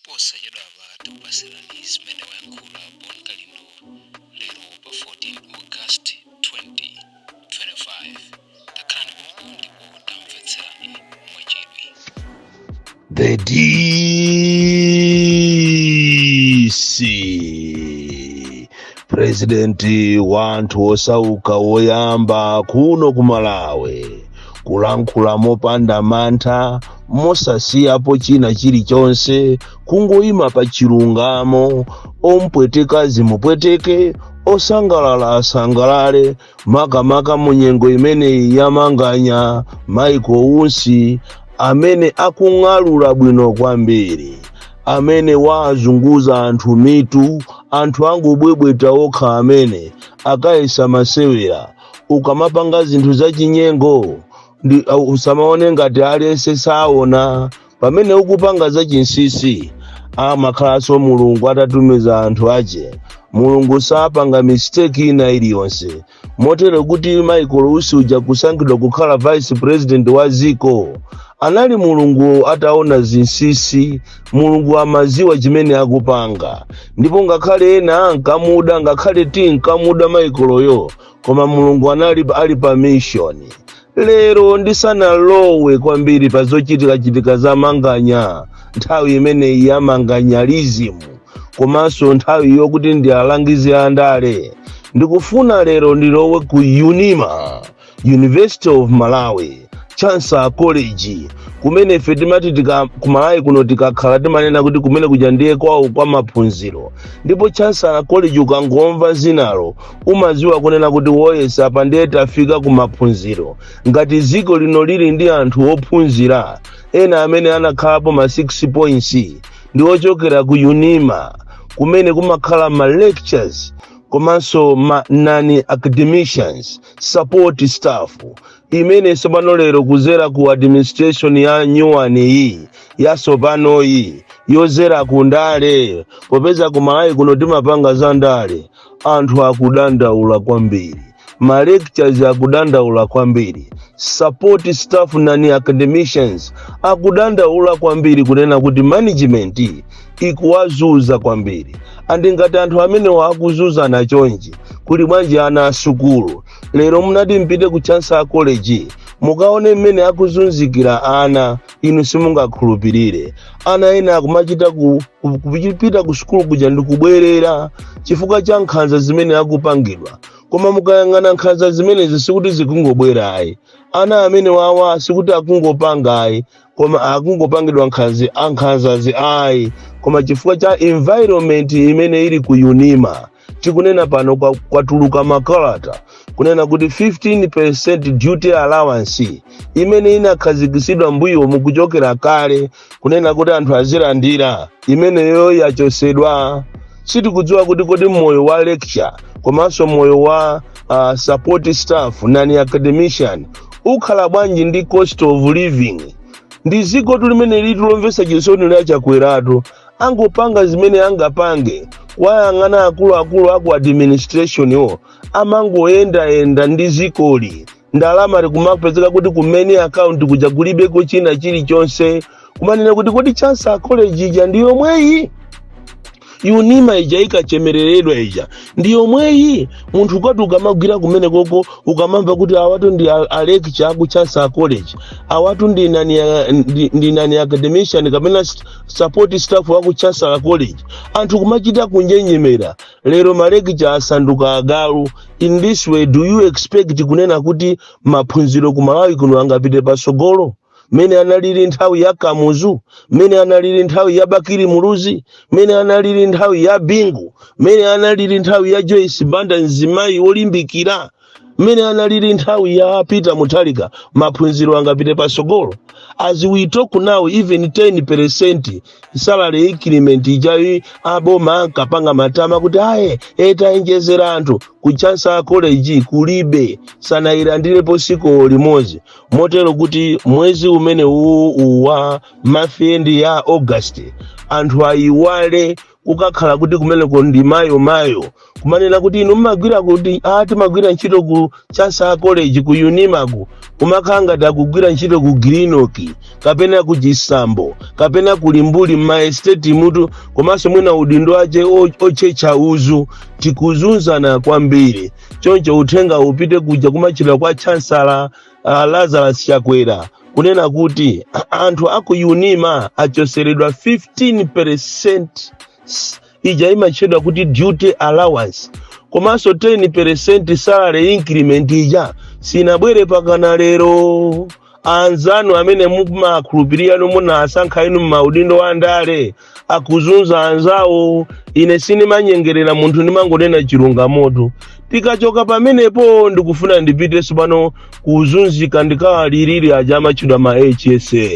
posachedwapa tikupasirani zimene wayankhula bon kalindo lero pa 14 august 2025 takhalani pompo ndipo tamvetserani mwachidwi The DC purezidenti wanthu osauka woyamba kuno ku malawi kulankhula mopanda mantha mosasiyapo china chilichonse kungoyima pa chilungamo ompweteka zimupweteke osangalala asangalale makamaka mu nyengo imeneyi ya manganya Michael Usi amene akung'alula bwino kwambiri amene wazunguza anthu mitu anthu angobwebweta okha amene akayesa masewera ukamapanga zinthu zachinyengo ndi- au- usamaone ngati aliyense saona pamene ukupanga za chinsisi amakhalanso mulungu atatumiza anthu ache mulungu sapanga mistake ina iliyonse motero kuti michael usi uja kusankhidwa kukhala vice president wa ziko anali mulungu ataona zinsisi mulungu amaziwa chimene akupanga ndipo ngakhale ena ankamuda ngakhale tinkamuda michaelyo koma mulungu anali ali pa mishoni Lero ndisanalowe kwambiri pa zochitikachitika za manganya, nthawi imeneyi ya manganyalizimu komanso nthawi yokuti ndi alangizi a ndale, ndikufuna lero ndilowe ku UNIMA, University of Malawi, Chancellor College, kumene ife timati tika- ku Malawi kuno tikakhala timanena kuti kumene kuja ndiye kwawo kwa maphunziro, ndipo Chancellor College ukangomva zinalo umadziwa kunena kuti oh yes apa ndiye tafika ku maphunziro ngati dziko lino lili ndi anthu ophunzira ena amene anakhalapo ma 6 points ndi ochokera ku unima kumene kumakhala ma lectures komanso ma non academicians support staff imene tsopano lero kuzera ku administration ya nyuwani iyi yatsopanoyi yozera ku ndale popeza ku malawi kuno timapanga za ndale anthu akudandaula kwambiri ma lectures akudandaula kwambiri support staff non academicians akudandaula kwambiri kunena kuti management ikuwazuza kwambiri and ngati anthu amenewa akuzuzana chonchi kuli bwanji ana asukulu lero mutati mupite ku chancellor college mukaone mmene akuzunzikira ana inu simungakhulupirire ana ena akumachita ku- ku- kupita ku sukulu kuja ndi kubwerera chifukwa cha nkhanza zimene akupangidwa koma mukayang'ana nkhanza zimenezi sikuti zikungobwera ayi ana amene wawa sikuti akungopanga ayi koma akungopangidwa nkhanza nkhanzazi ayi koma chifukwa cha environment imene ili ku unima tikunena pano kwa- kwatuluka makalata kunena kuti 15% duty allowance imene inakhazikitsidwa m'mbuyomu kuchokera kale kunena kuti anthu azilandira imeneyo yachotsedwa sitikudziwa kuti kodi moyo wa lecturer komanso moyo wa uh, support staff non-academician ukhala bwanji ndi cost of living ndi dziko tilimeneli litu lomvetsa chisoni_ la chakweratu angopanga zimene angapange tayang'ana akuluakulu aku administrationwo amangoyendayenda m'dzikoli ndalama n'kumapezeka kuti kumene akaunti kuja kulibeko china chilichonse kumanena kuti kodi chancellor college ija ndi yomweyi unima ija inkachemereredwa ija ndi yomweyi munthu ukati ukamagwira kumenekoko ukamamva kuti awatu ndi a- a lecturer aku chancellor college awatu ndi nani, ndi, ndi non-academician kapena st- support staff wa ku chancellor college anthu kumachita kunjenjemera lero malekicha asanduka agalu in this way do you expect kunena kuti maphunziro ku malawi kuno angapite patsogolo mmene analili nthawi ya kamuzu mmene analili nthawi ya bakili muluzi mmene analili nthawi ya bingu mmene analili nthawi ya joyce banda mzimayi wolimbikira mmene analili nthawi ya peter mutharika maphunziro angapite patsogolo as we talk now even 10 percent salary increment ija aboma ankapanga matama kuti aye tawonjezera anthu ku chancellor college kulibe sanayilandirepo tsiku limodzi motero kuti mwezi umene uwu uwa month end ya august anthu ayiwale kukakhala kuti kumeneko ndi mayo mayo kumanena kuti inu mmagwira kuti a timagwira ntchito ku chancellor college ku unimaku kumakhala ngati akugwira ntchito ku grinoki kapena ku chisambo kapena ku limbuli m'maesteti mutu komanso mwina udindo wace o- otchetcha uzu tikuzunzana kwambiri choncho uthenga upite kuja kwa mtchira kwa chansala uh, lazarus chakwera kunena kuti anthu aku unima achotseredwa 15% ija imatchedwa kuti duty allowance komanso 10% salary increment ija sinabwere mpakana lero anzanu amene mumakhulupirira munawasankha inu m'maudindo wa ndale akuzunza anzawo ine sindimanyengerera munthu ndimangonena chilungamoto tikachoka pamenepo ndikufuna ndipite tsopano kuzunzika ndikawalirire aja amatchedwa ma hsa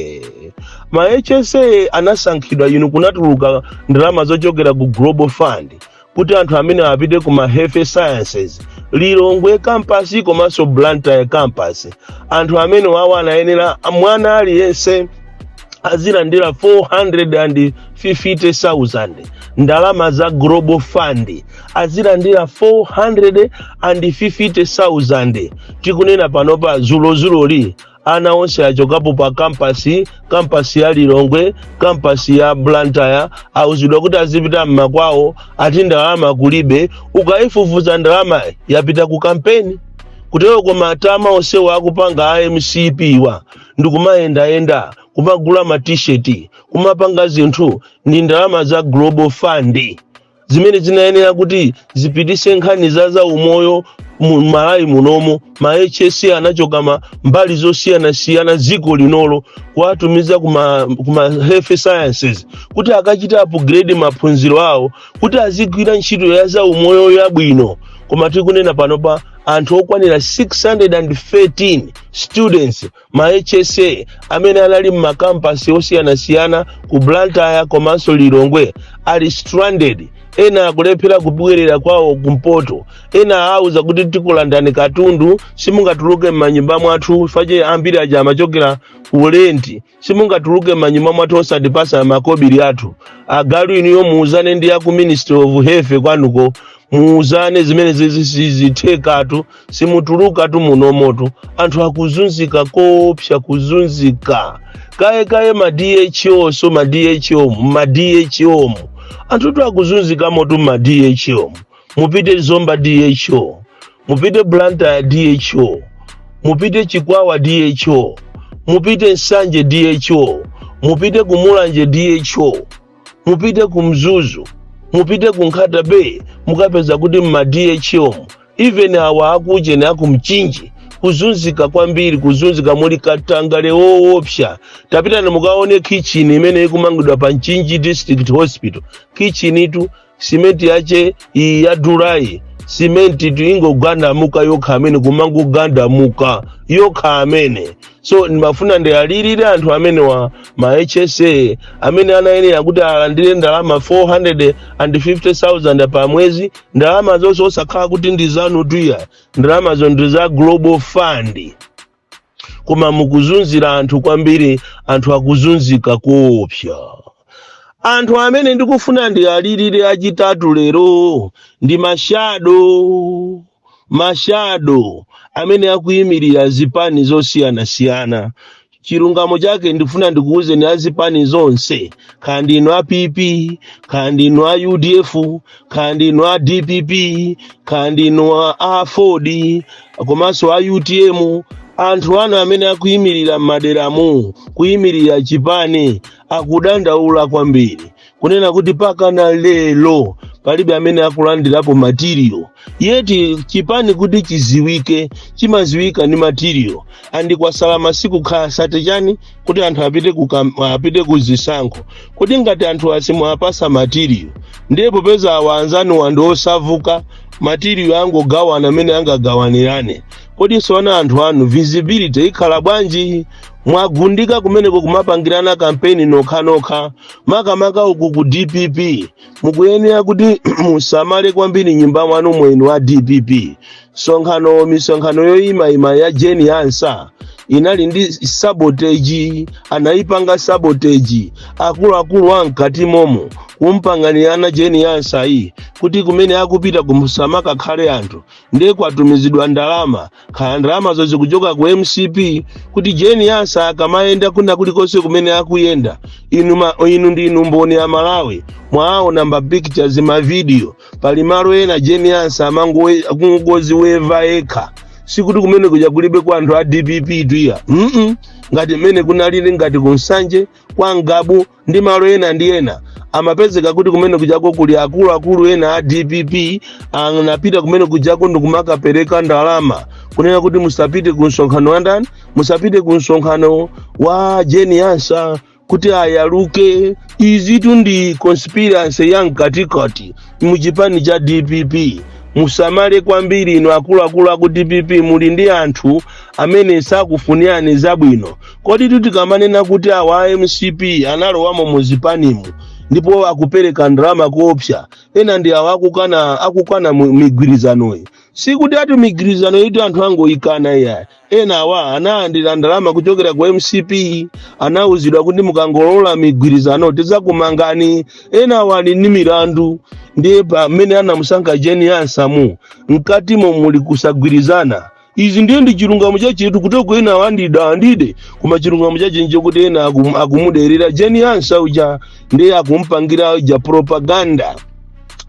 ma hsa anasankhidwa inu kunatuluka ndalama zochokera ku global fund kuti anthu amene apite ku ma health sciences lilongwe campus komanso blantyre campus anthu amenewawa anayenera mwana aliyense azilandira 450,000 ndalama za global fund azilandira 450,000 tikunena panopa zulozuloli ana onse achokapo pa kampasi kampasi ya lilongwe kampasi ya blantyre auzidwa kuti azipita mmakwawo ati ndalama kulibe ukayifufuza ndalama yapita ku kampeni kutero koma matama onsewa akupanga a mcp wa ndikumayendayenda kumagula matisheti kumapanga zinthu ndi ndalama za global fund zimene zinayenera kuti zipititse nkhani za zaumoyo m'malawi munomo ma hsa anachoka m'mbali zosiyanasiyana dziko linolo kuwatumiza kuma, kuma health sciences kuti akachite upgrade maphunziro awo kuti azigwira ntchito ya zaumoyo yabwino koma tikunena panopa anthu okwanira 613 students ma HSA amene anali m'makampasi osiyanasiyana ku Blantyre komanso Lilongwe ali stranded ena akulephera kubwerera kwawo kumpoto ena auza kuti tikulandani katundu simungatuluke m'manyumba mwathu paja ambiri aja amachokera ku lenti simungatuluke m'manyumba mwathu osatipatsa makobiri athu agalu inuyo muuzane ndi aku ministry of health kwanuko muuzane zimenezi sizithekatu simutulukatu munomotu anthu akuzunzika koopsa kuzunzika kaye kaye ma dho so ma dho mu ma dho mu anthu tu akuzunzikamotu mu ma dho mu mupite zomba dho mupite blantyre dho mupite chikwawa dho mupite nsanje dho mupite kumulanje dho mupite ku mzuzu mupite ku nkhata bay mukapeza kuti mma dho even awa akujeni akumchinji kuzunzika kwambiri kuzunzika muli katangale woopsa tapitani mukaone kitchen imene ikumangidwa pa mchinji district hospital kitchenitu simenti yache iyi ya dulayi simentitu ikungogandamuka yokhayo mmene kumangogandamuka yokhayo mmene so ndimafuna ndiwalirire anthu amenewa ma hsa amene anayenera kuti alandire ndalama 450000 pa mwezi ndalama zonse osakhala kuti ndi zanutu ayi ndalamazo ndi za global fund koma mukuzunzira anthu kwambiri anthu akuzunzika koopsa anthu amene ndikufuna ndiwalirire achitatu lero ndi mashado mashado amene akuyimirira zipani zosiyanasiyana chilungamo chake ndifuna ndikuwuzeni azipani zonse kaya ndinu a pp kaya ndinu a udf khala ndinu a dpp khala ndinu a aford komanso a utm anthu anu amene akuyimirira m'maderamu kuyimirira chipani akudandaula kwambiri kunena kuti pakana lero palibe amene akulandirapo material yet chipani kuti chiziwike chimaziwika ndi material and kwasala masiku kaya thirty chani kuti anthu apite ku kam- apite ku zisankho kodi ngati anthuwa simuwapasa material ndiye popeza awa anzanuwa ndi osavuta material angogawana mmene angagawanirane kodi tsono anthu anu visibility ikhala bwanji mwagundika kumeneko kumapangirana kampeni nokhanokha makamaka uku ku dpp mukuyenera kuti musamale kwambiri m'nyumba mwanumo inu a dpp msonkhano misonkhano yoyimayima ya jane ansah inali ndi sabotage anayipanga sabotage akuluakulu a mkati momo kumpanganirana jane ansah iyi kuti kumene akupita kusamakakhale anthu ndiye kwatumizidwa ndalama khala ndalamazo zikuchoka ku mcp kuti jane ansah akamayenda kwina kulikonse kumene akuyenda inu, ma, inu ndinu mboni amalawi mwaona ma pictures mavidiyo pali malo ena jane ansah amangoziweva ekha sikuti kumene kuja kulibe kwa anthu a dpp tuya mm ngati mmene kunalili ngati ku nsanje kwa ngabu ndi malo ena ndi ena amapezeka kuti kumene kujako kuli akuluakulu ena a dpp anapita kumene kujako ndikumakapereka ndalama kunena kuti musapite ku msonkhano wa ndani musapite ku msonkhano wa jane ansah kuti ayaluke izitu ndi conspiracy ya mkatikati mu chipani cha dpp musamale kwambiri inu akuluakulu aku dpp muli ndi anthu amene sakufunirani zabwino koditu tikamanena kuti awa a mcp analowamo mu zipanimu ndipo akupereka ndalama koopsa ena ndi awa akukana akukana mu- migwirizanoyi sikuti ati migwirizanoyitu anthu angoyikana iya enawa analandira ndalama kuchokera ku mcp anauzidwa kuti mukangolola migwirizano tidzakumangani enawa ali ndi milandu ndiye pamene anamusankha jane ansah mu mkatimo muli kusagwirizana izi ndiye ndi chilungamo chachetu kuti ok ena ondida andide koma chilungamo chache nchakuti ena akum- akumuderera jane ansah uja ndiye akumpangira uja propaganda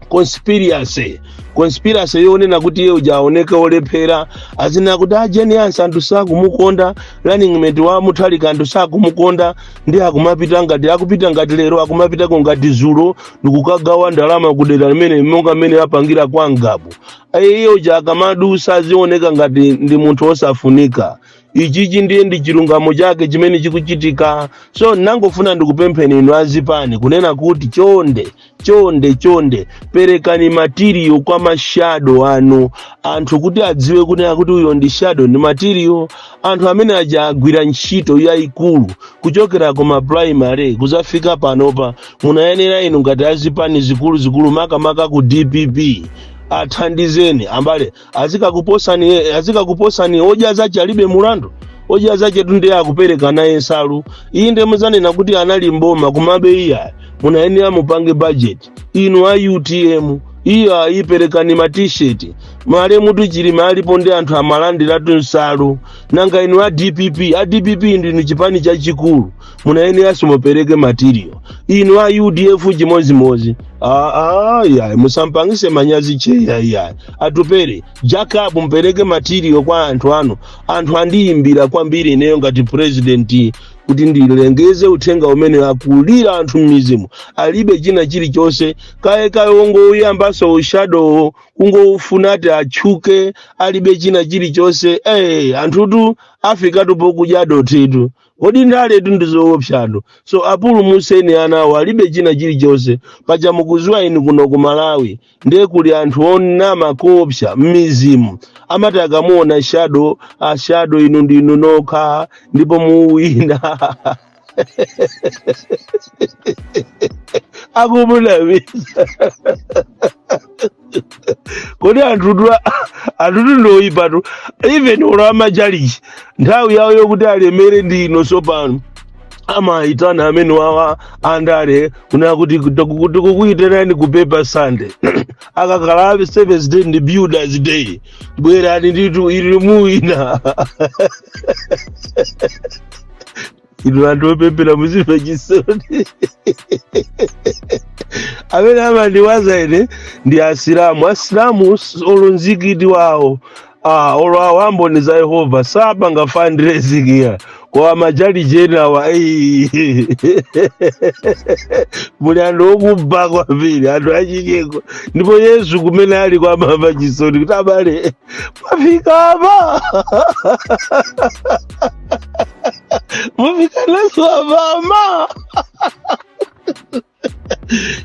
conspiracy conspiracy yonena kuti iye uja aoneke olephera azinena kuti a jane ansah anthu sakumukonda running mate wa mutharika anthu sakumukonda ndi akumapita ngati akupita ngati lero akumapitako ngati zulo ndikukagawa ndalama kudera limene monga mmene apangira kwa ngabu iye uja akamadusa azioneka ngati ndi munthu osafunika ichichi ndiye ndi chilungamo chake chimene chikuchitika so ndangofuna ndikupempheni inu azipani kunena kuti chonde chonde chonde perekani matiriyo kwa mashado anu anthu kuti adziwe kunena kuti uyo ndi shado ndi matiriyo anthu amene aja agwira ntchito yayikulu kuchokera ku ma primary kuzafika panopa munayenera inu ngati azipani zikuluzikulu makamaka ku dpp athandizeni ambale azikakuposani azikakuposani odya zace alibe mulandu odya zace tu nde akupereka naye nsalu iyi nde muzanena kuti anali mboma kumabe iya munayenera mupange budget inu a utm iyo ayiperekani ma t-shirt male mutu chilima alipo ndi anthu amalandiratu nsalu nanga inu a dpp a dpp ndinu chipani chachikulu munayeneranso mupereke material inu a udf chimodzimodzi aa yayi musampangise manyazi cheya yayi a Atupele Jacob mupereke material kwa anthu anu anthu andiyimbira kwambiri ineyo ngati president kuti ndilengeze uthenga umene akulira anthu m'midzimu alibe china chilichonse kaye kaye ongouyambanso ushadowo kungowufuna ati atchuke alibe china chilichonse eh anthutu afikatu pokudya dothitu kodi ndaletu ndi zoopsatu so apulumuseni anawo alibe china chilichonse paja mukuziwa inu kuno ku malawi ndiye kuli anthu onama koopsa m'midzimu amati akamuona shado ashado inu ndinu nokha ndipo muwina akumunamiza kodi anthutu anthutu ndoyipatu even olo amachalichi nthawi yawo yokuti alemere ndi ino sopano amayitana amenewawa andale kunena kuti tikukuyitanani ku paper sunday akakhala a seventh day ndi builders day bwerani nditu ili muwina inu anthu opemphera muzimva chisoni amene amandiwaza ine ndi asilamu asilamu s- olo mzikiti wawo ah, olo awo amboni za yehova sapanga ma fundraising koma machalichi enawa ei. muli anthu okuba kwambiri anthu achinyengo ndipo yesu kumene ali ko amamva chisoni kuti abale mwafika apa mwafikanazo amama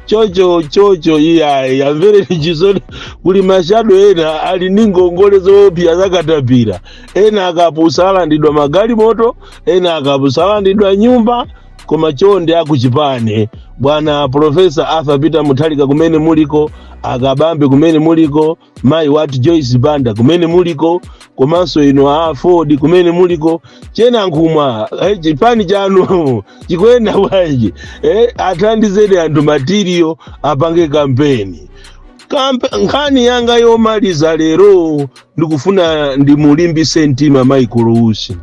chocho chocho iyayi amvereni chisoni kuli mashado ena ali ni ngongole zoopsa zakatapira ena akapusa alandidwa magalimoto ena akapusa alandidwa nyumba koma chonde akuchipani bwana profesa arthur peter mutharika kumene muliko a kabambe kumene muliko mayi wathu joyce banda kumene muliko komanso inu aford kumene muliko chihana nankhumwa eh, chipani chanu chikuyenda bwanji eh, athandizeni anthu material apange kampeni Kampe, nkhani yanga yomaliza lero ndikufuna ndimulimbitse mtima michael usi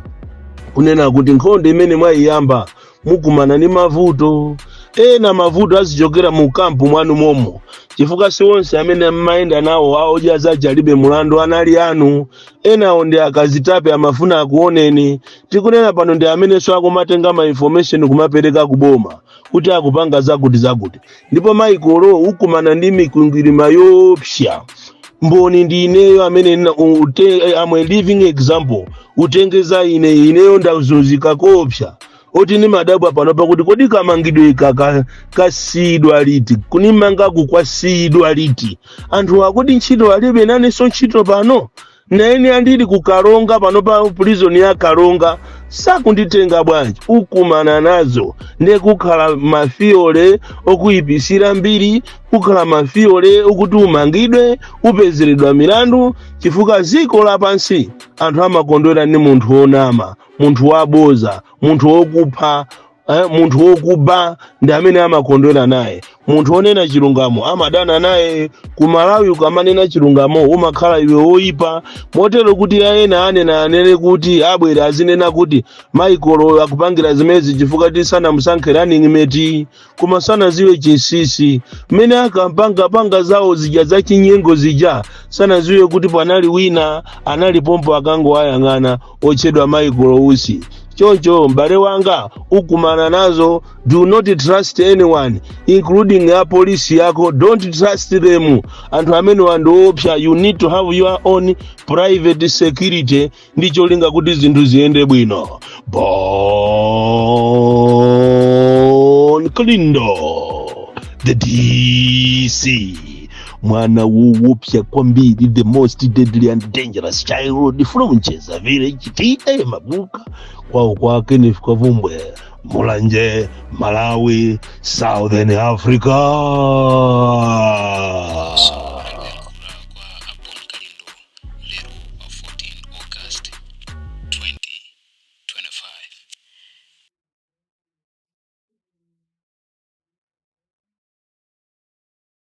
kunena kuti nkhondo imene mwayiyamba mukumana ndi mavuto ena mavuto azichokera mu kampu mwanu momwemo chifukwa si onse amene mmayenda nawo awodya zake alibe mulandu ali anu enawo ndi akazitape amafuna akuoneni tikunena pano ndi amenenso akumatenga ma information kumapereka kuboma kuti akupanga zakuti zakuti ndipo michael ukumana ndi mikwingwirima yoopsa mboni ndi ineyo amene i am a living example utenge za ine ineyo ndazunzika koopsa moti ndimadabwa pano pakuti kodi kamangidwe aka kasiyidwa liti kunimanga uku kwasiyidwa liti anthu akuti ntchito alibe nanenso ntchito pano naine ndili ku karonga pano pa prison ya karonga sakunditenga bwanji ukumana nazo ndiye kukhala mafiyole okuyipisira mbiri kukhala mafiyole okuti umangidwe upezeredwa milandu chifukwa ziko lapansi anthu amakondwera ndi munthu wonama munthu waboza munthu wokupha eh, munthu wokuba ndi amene amakondwera naye munthu wonena chilungamo amadana naye ku malawi ukamanena chilungamo umakhala iwe woyipa motero kuti ena anena anene kuti abwera azinena kuti michael akupangira zimenezi chifukwa ti sanamusankhe running mate koma sanaziwe chinsinsi mmene ankapanga panga zawo zija za chinyengo zija sanaziwe kuti panali wina anali pompo ankangowayang'ana otchedwa michael usi choncho m'bale wanga ukumana nazo do not trust anyone including a polisi yako don't trust them anthu amenewa ndi oopsa you need to have your own private security ndi cholinga kuti zinthu ziyende bwino bon kalindo the dc mwana wowopsa kwambiri the most deadly and dangerous child from ncheza village ta mabuka kwawo kwake ni chikavumbwe mulanje malawi southern africa